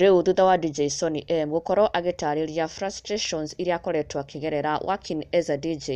Rĩu thutha wa DJ Sonny M gũkorwo agĩtarĩria frustrations iria akoretwo akĩgerera working as a DJ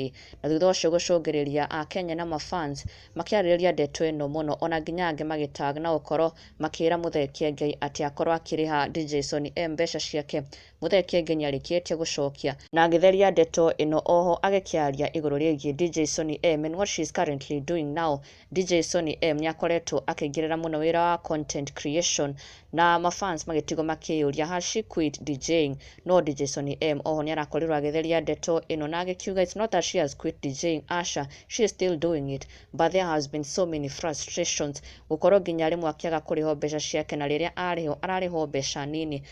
na thutha ũcio gũcũngĩrĩria Akenya na mafans makĩarĩrĩria ndeto ĩno mũno ona nginya angĩ magĩtag na gũkorwo makĩra Mũthee Kiengei atĩ akorwo akĩrĩha DJ Sonny M mbeca ciake Mũthee Kienge nĩarĩkĩĩtie gũcookia. Na agĩtheria ndeto ĩno oho agĩkĩaria igũrũ rĩĩgiĩ DJ Sonny M and what she is currently doing now. DJ Sonny M nĩakoretwo akĩingĩrĩra mũno wĩra wa content creation na ma fans magĩtigwo makĩĩyũria has she quit DJing? No DJ Sonny M oho nĩarakorirwo agĩtheria ndeto ĩno na agĩkiuga it's not that she has quit DJing, aca, she is still doing it but there has been so many frustrations gũkorwo nginya rĩmwe akĩaga kũrĩhwo mbeca ciake na rĩrĩa arĩhwo ararĩhwo mbeca nini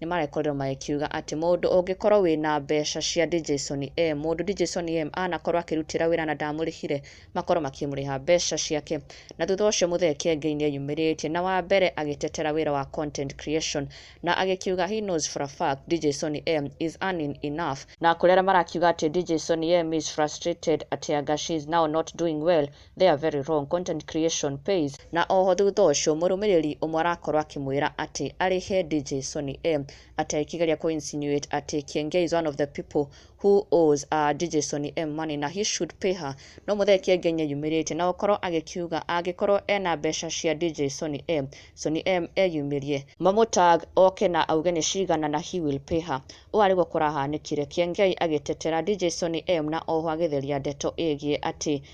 nĩ marakorirwo magĩkiuga atĩ mũndũ ũngĩkorwo wĩna mbeca cia Dijason M, mũndũ Dijason M anakorwo akĩrutĩra wĩra na ndamũrĩhire, makorwo makĩmũrĩha mbeca ciake. Na thutha ũcio Mũthee Kiengei nĩ eyumĩrĩtie na wa mbere agĩtetera wĩra wa content creation na agĩkiuga he knows for a fact Dijason M is earning enough. Na kũrĩ arĩa marakiuga atĩ Dijason M is frustrated atĩ anga she is now not doing well, their very wrong content creation pays. Na oho thutha ũcio mũrũmĩrĩri ũmwe arakorwo akĩmwĩra atĩ arĩhe DJ Sony M atĩ akĩgeria kũ insinuate atĩ Kiengei is one of the people who owes uh, DJ Sony M money na he should pay her no mũthee Kiengei nĩ eyumĩrĩtie na gũkorwo agĩkiuga angĩkorwo ena mbeca cia DJ Sony M Sony M eyumĩrie mamũtag oke na auge nĩ cigana na he will pay her ũũ arĩguo kũrahanĩkire Kiengei agĩtetera DJ Sony M na oho agĩtheria ndeto ĩgiĩ atĩ